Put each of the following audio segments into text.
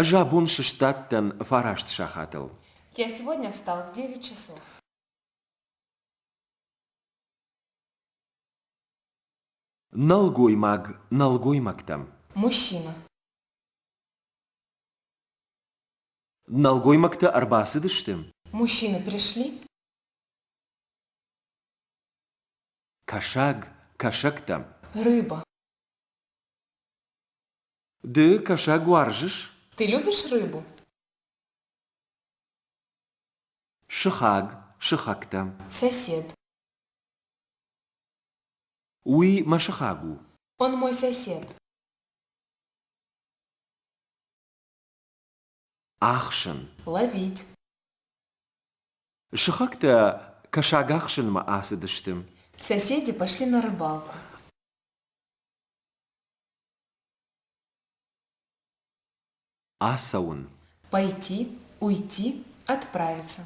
Ӕз абон сыстадтӕн фараст сахатыл. Я сегодня встал в девять часов. Нӕлгоймаг нӕлгоймӕгтӕм. Мужчина. Нӕлгоймӕгтӕ ӕрбацыдысты? Мужчины пришли? Кӕсаг кӕсӕгтӕм. Рыба. Ды кӕсаг уарзыс? Ты любишь рыбу? Сыхаг, сыхӕгтӕ. Сосед. Уый мӕ сыхаг у. Он мой сосед. ӕхсын. Ловить. Сыхӕгтӕ кӕсагахсынмӕ ацыдысты. Соседи пошли на рыбалку. Ацӕуын. Пойти, уйти, отправиться.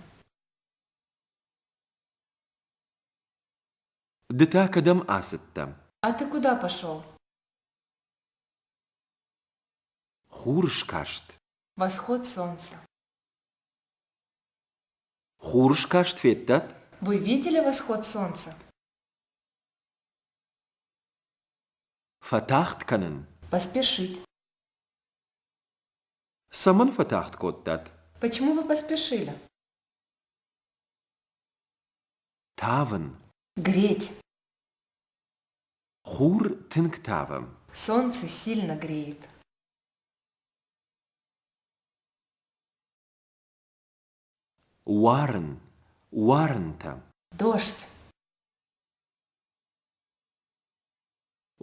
Ды та кӕдӕм ацыдтӕ? А ты куда пошел? Хур скаст. Восход солнца. Хур скаст федтат? Вы видели восход солнца? Фӕтагъд кӕнын. Поспешить. Цӕмӕн фӕтагъд кодтат? Почему вы поспешили? Тавын. Греть. Хур тынг тавӕм. Солнце сильно греет. Уарын, уарынтӕ. Дождь.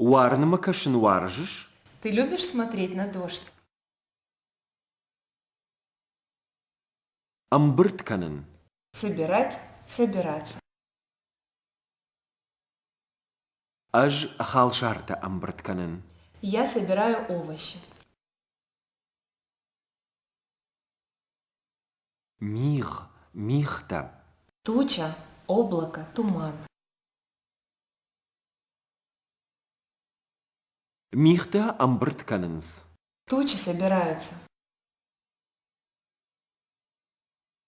Уарынмӕ кӕсын уарзыс? Ты любишь смотреть на дождь? Ӕмбырд кӕнын. Собирать, собираться. Ӕз халсартӕ ӕмбырд кӕнын. Я собираю овощи. Мигъ, мигътӕ. Туча, облако, туман. Мигътӕ ӕмбырд кӕнынц. Тучи собираются.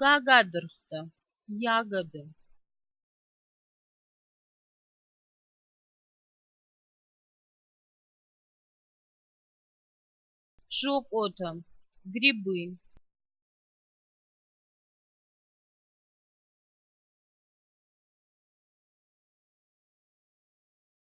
Гагадыргътӕ — ягоды. Шокотӕ — грибы.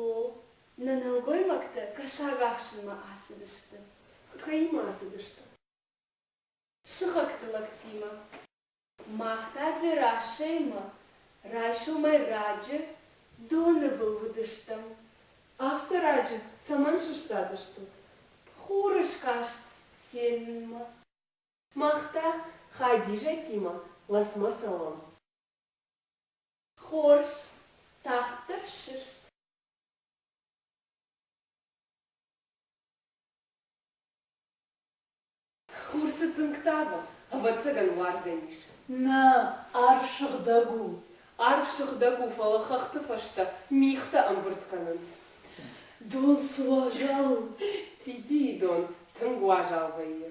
О, нӕ нӕлгоймӕгтӕ кӕсаг ахсынмӕ ацыдысты. Куыд кӕимӕ ацыдысты? Сыхӕгты лӕгтимӕ. Мах та Дзерассӕимӕ райсомӕй раджы доны был уыдыстӕм. Афтӕ раджы цӕмӕн сыстадыстут? Хуры скаст фенынмӕ. Мах та Хадизӕтимӕ ласмӕ цӕуӕм. Хорз, тагъддӕр сыст. Хурцы тынг тавы, ӕвӕццӕгӕн уарзӕн ис. Нӕ, арв сыгъдӕг у. Арв сыгъдӕг у, фӕлӕ хӕхты фӕстӕ мигътӕ ӕмбырд кӕнынц. Дон суазал у. Титийы дон тынг уазал вӕййы.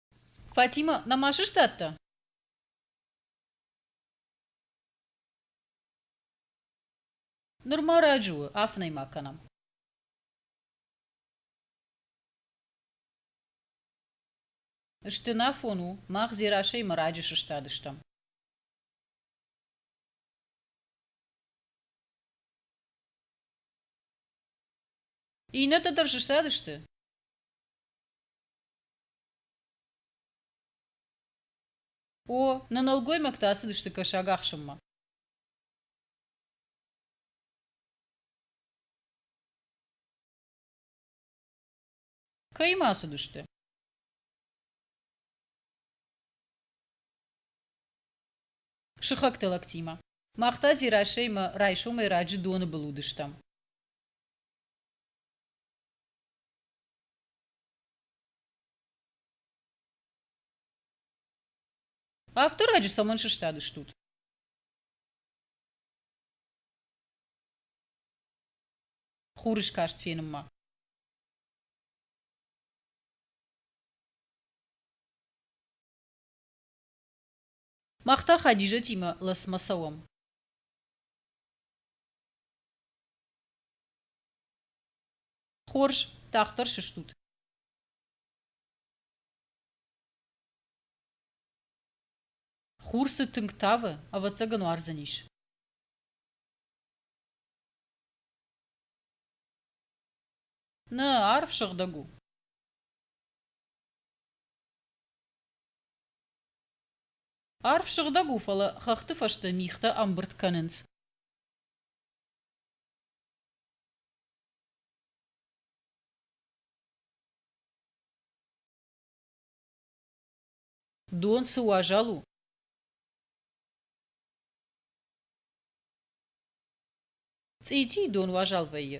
Фатимӕ, нӕма сыстадтӕ? Нырма раджы у, афынӕй ма кӕнӕм. Стынафон у, мах Дзерасӕймӕ раджы сыстадыстӕм. Иннӕтӕ дӕр сыстадысты? О, нӕ нӕлгоймӕгтӕ ацыдысты кӕсаг ахсынмӕ. Кӕимӕ ацыдысты? Сыхӕгты лӕгтимӕ. Мах та Дзерасӕймӕ райсомӕй раджы доны был уыдыстӕм. Автораджы цӕмӕн сыстадыстут? Хурыскаст фенынмӕ. Мах та Хадизӕтимӕ Ласмӕ цӕуӕм. Хорз, тагъддӕр сыстут. Хур цы тынг тавы, ӕвӕццӕгӕн уардзӕнис. Нӕ, арв сыгъдӕг у. Арв сыгъдӕг у, фӕлӕ хӕхты фӕстӕ мигътӕ ӕмбырд кӕнынц. Дон цы уазал у? Цъитийы дон уазал вӕййы.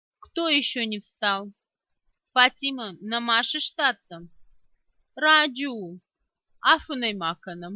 Кто еще не встал? Фатима, на Маше штаттам. Раджу, афынӕй ма кӕнӕм.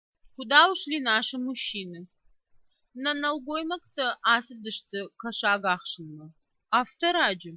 Куда ушли наши мужчины? Нӕ нӕлгоймӕгтӕ ацыдысты кӕсаг ахсынмӕ. Афтӕ раджы?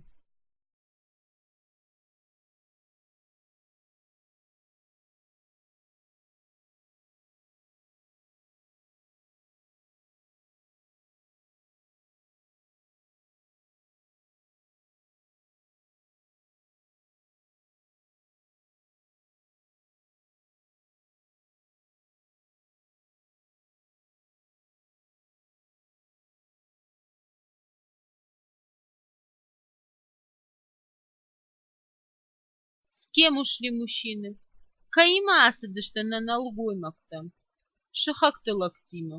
С кем ушли мужчины? Каимӕ ацыдысты нӕ нӕлгоймӕгтӕм. Сыхӕгты лӕгтимӕ.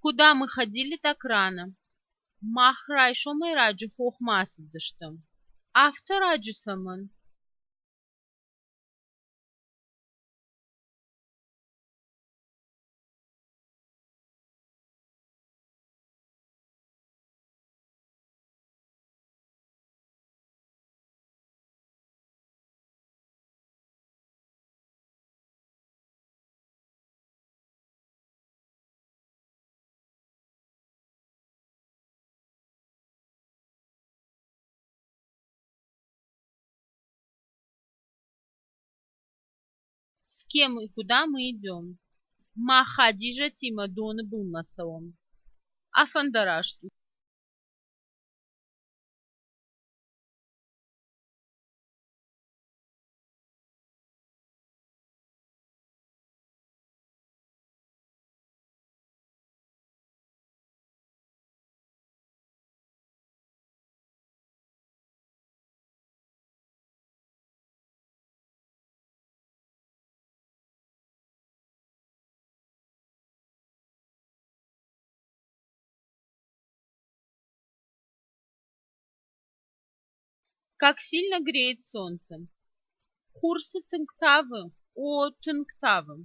Куда мы ходили, так рано. Мах райсомӕй раджы хохмӕ ацыдыстӕм. Афтӕ раджы цӕмӕн? С кем и куда мы идем? Ма Хадижа Тима Доны был Масаон. Афандарашты. Как сильно греет солнце! Хурсы тынг тавы, о, тынг тавы!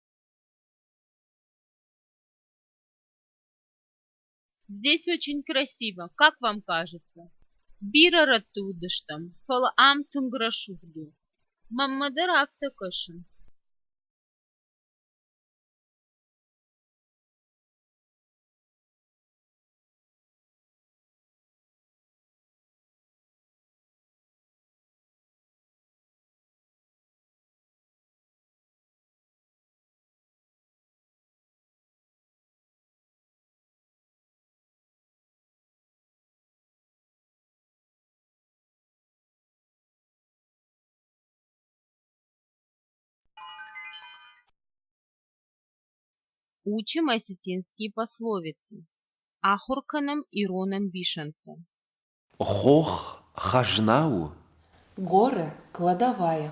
Здесь очень красиво, как вам кажется? Бирӕ рӕтты уыдыстӕм, фӕлӕ ам тынг рӕсугъд у. Мӕнмӕ дӕр афтӕ кӕсы. Учим осетинские пословицы. Ахуыр кӕнӕм ирон ӕмбисӕндтӕ. Хох хӕзна у? Горы кладовая.